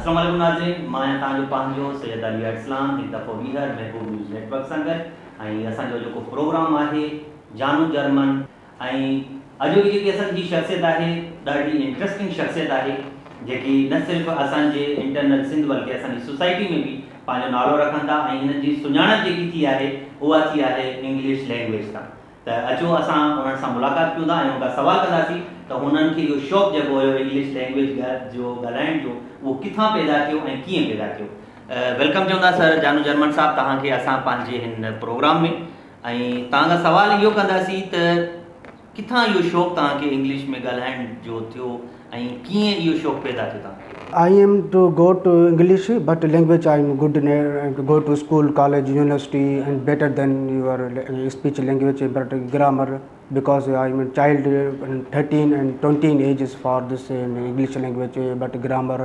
السلام عليڪم ناظرين مان آهيان توهان جو پنهنجو سيد علي ارسلان هڪ دفعو ٻيهر محبوب نيوز نيٽ ورڪ سان گڏ ۽ اسان جو جيڪو پروگرام آهي جانو جرمن ۽ اڄ جي جيڪي اسان جي شخصيت آهي ڏاڍي انٽرسٽنگ شخصيت آهي جيڪي نه صرف اسان جي انٽرنل سنڌ بلڪه اسان جي سوسائٽي ۾ به پنهنجو نالو رکن ٿا ۽ هنن جي سڃاڻپ جيڪي ٿي آهي اها ٿي آهي انگلش لينگويج تان ته اچو اسان انهن سان ملاقات ڪيون ٿا ۽ انهن کان سوال ڪنداسين ته هنن کي اهو شوق جڳو هيو انگلش لينگويج جو ڳالهائڻ جو اهو ڪٿان پيدا ٿيو ۽ ڪيئن پيدا ٿيو. ويلڪم چون ٿا سر جانو جرمن صاحب توهان کي اسان پنهنجي هن پروگرام ۾ ۽ توهان کان سوال اهو ڪنداسين ته ڪٿان اهو شوق توهان کي انگلش ۾ ڳالهائڻ جو ٿيو ۽ ڪيئن اهو شوق پيدا ٿيو توهان کي؟ I am to go to English but language I am good in go to school college university and better than your speech language but grammar because I am child thirteen and twenty ages for this English language but grammar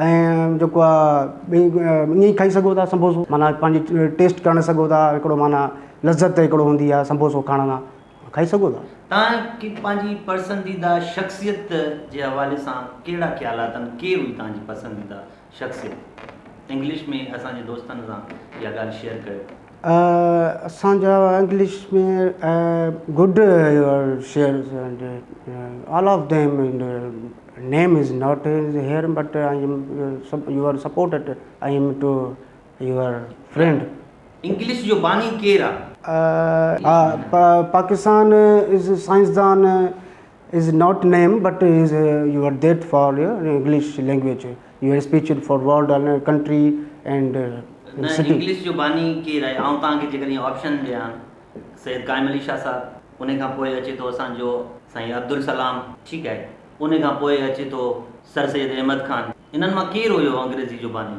۽ جيڪو آ ائين کائي سگهو ٿا سمبوسو معنيٰ پنهنجي test ڪرڻ سگهو ٿا هڪڙو معنيٰ لذت هڪڙو هوندي آ سمبوسو کائڻ ۾ کائي سگهو ٿا. تان کي پنهنجي پرسنديده شخصيت جي حوالي سان ڪهڙا خيال آتن ڪير هئي تنهنجي پسنديده شخصيت انگلش ۾ اسان جي دوستن سان اها ڳالهه شيئر ڪيو. اسان جا انگلش ۾ گڊ شعر all of them name is not is here but I am your support I am to your friend English جو باني ڪير آ؟ پاڪستان از سائنسدان is not name but is your death for English language your speech for world in country and نه city. English جو باني ڪير آهي آئون توهان کي جيڪڏهن آپشن ڏيان سيد قائم علي شاهه صاحب انهي کان پوء اچي ٿو اسان جو سائين عبدالسلام ٺيڪ آهي انهي کان پوء اچي ٿو سر سيد احمد خان انهن مان ڪير هيو انگريزي جو باني.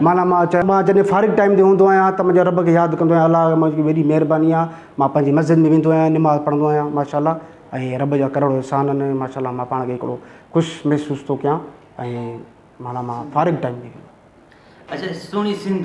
معنيٰ مان چيو، مان جڏهن فارغ ٽائيم تي هوندو آهيان ته منهنجي رب کي ياد ڪندو آهيان، الله جي منهنجي وڏي مهرباني آهي، مان پنهنجي مسجد ۾ ويندو آهيان، نماز پڙهندو آهيان، ماشاءالله ۽ رب جا ڪروڙ احسان آهن، ماشاءالله مان پاڻ کي هڪڙو خوش محسوس ٿو ڪيان ۽ معنيٰ مان فارغ ٽائيم تي. اچا سهڻي سنڌ.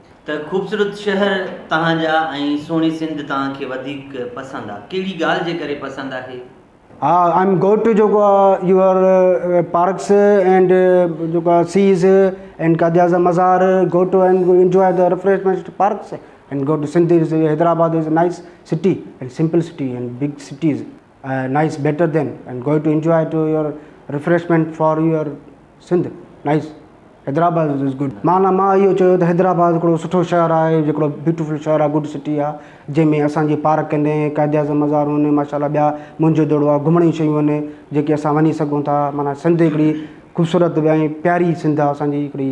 ته خوبصورت شهر توهان جا ۽ سهڻي سنڌ توهان کي وڌيڪ پسند آ ڪهڙي ڳالهه جي ڪري پسند آهي؟ ها آء ايم گوئ ٽو جيڪو آ يوئر پارڪس اينڊ جيڪو آ seas and Quaid Azam mazar go to and enjoy the refreshments parks and go to Sindh as Hyderabad as nice city and simple city and big cities nice better than and go to enjoy to your refreshment for your Sindh nice Hyderabad is good معنيٰ مان اهو چيو ته حيدرآباد هڪڙو سٺو شهر آهي هڪڙو بيوٽيفل شهر آهي گڊ سٽي آهي جنهن ۾ اسان جي پارڪ آهن قائد اعظم مزار آهن ماشاء الله ٻيا موهنجو دڙو آهي گهمڻ جون شيون آهن جيڪي اسان وڃي سگهون ٿا معنيٰ سنڌ هڪڙي خوبصورت ۽ پياري سنڌ آهي اسان جي هڪڙي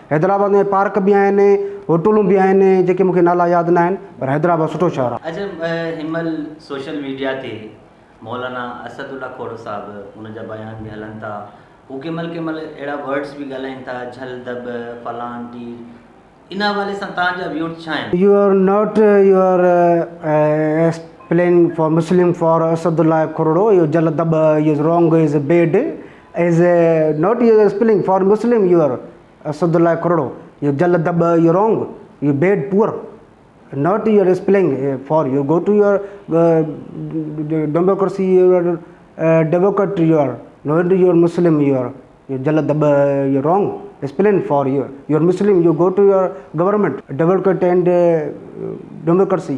حيدرآباد ۾ پارڪ به آهن هوٽلون به آهن جيڪي مونکي نالا ياد نه آهن پر حيدرآباد سٺو شهر آهي. اڄ هن مهل سوشل ميڊيا تي مولانا اسد الله کوڙو صاحب ان جا بيان به هلن ٿا هو ڪنهن مهل ڪنهن مهل اهڙا ورڊس به ڳالهائين ٿا جھل دٻ فلان ٽير ان حوالي سان توهان جا ويوز ڇا آهن؟ You are not you are as playing for Muslim for Asadullah Khoro اهو جھل دٻ اهو رونگ اهو is bad is not your spelling for Muslim you are Asadullah Khoro you جل دٻ you wrong you bad poor not your spelling for you go to your democracy your democrat you are not your Muslim you are you جل دٻ you wrong spelling for U your Muslim you go to your government democrat and democracy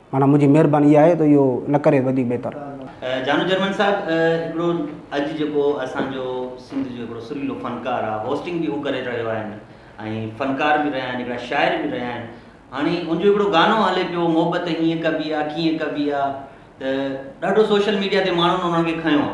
معنيٰ منهنجي مهرباني اها آهي ته اهو نه ڪري وڌيڪ بهتر. جانو جرمن صاحب هڪڙو اڄ جيڪو اسان جو سنڌ جو هڪڙو سريلو فنڪار آ هوسٽنگ به هو ڪري رهيو آهن ۽ فنڪار به رهيا آهن هڪڙا شاعر به رهيا آهن هاڻي ان جو هڪڙو گانو هلي پيو محبت هيئن ڪبي آ ڪيئن ڪبي آ ته ڏاڍو سوشل ميڊيا تي ماڻهن انهن کي کنيو آ.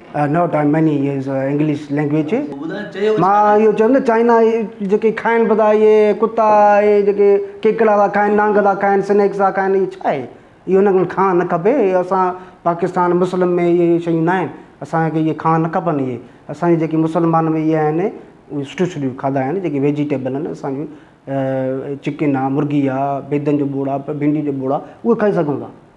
Not I many use English language مان اهو چوم نه چائنا جيڪي کائن پتا اهي ڪتا اهي جيڪي ڪيڪڙا ٿا کائن نانگ ٿا کائن سنيڪس ٿا کائن اهي ڇا اهي اهي ان ڪن کان نه کپي اسان پاڪستان مسلم ۾ اهي شيون ناهن اسانکي اهي کان نه کپن اهي اسانجي جيڪي مسلمان ۾ اهي آهن اهي سٺيون سٺيون کادا آهن جيڪي ويجيٽيبل آهن اسانجو چڪن آهي مرغي آهي بيدن جو ٻوڙ آهي ڀنڊي جو ٻوڙ آهي اهي کائي سگهون ٿا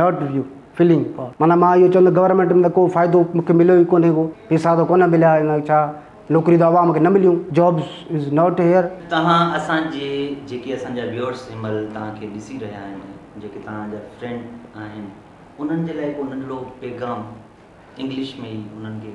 ناٽ ويو فلنگ فار معنيٰ مان اهو چوندو گورنمينٽ ۾ ته ڪو فائدو مون کي مليو ئي ڪونهي ڪو پيسا ته ڪونه مليا ان ڇا نوڪري ته عوام کي نه مليون جابس از ناٽ هيئر. توهان اسان جي جيڪي اسان جا ويورس هن مهل توهان کي ڏسي رهيا آهن جيڪي توهان جا فرينڊ آهن انهن جي لاء ڪو ننڍڙو پيغام انگلش ۾ ئي انهن کي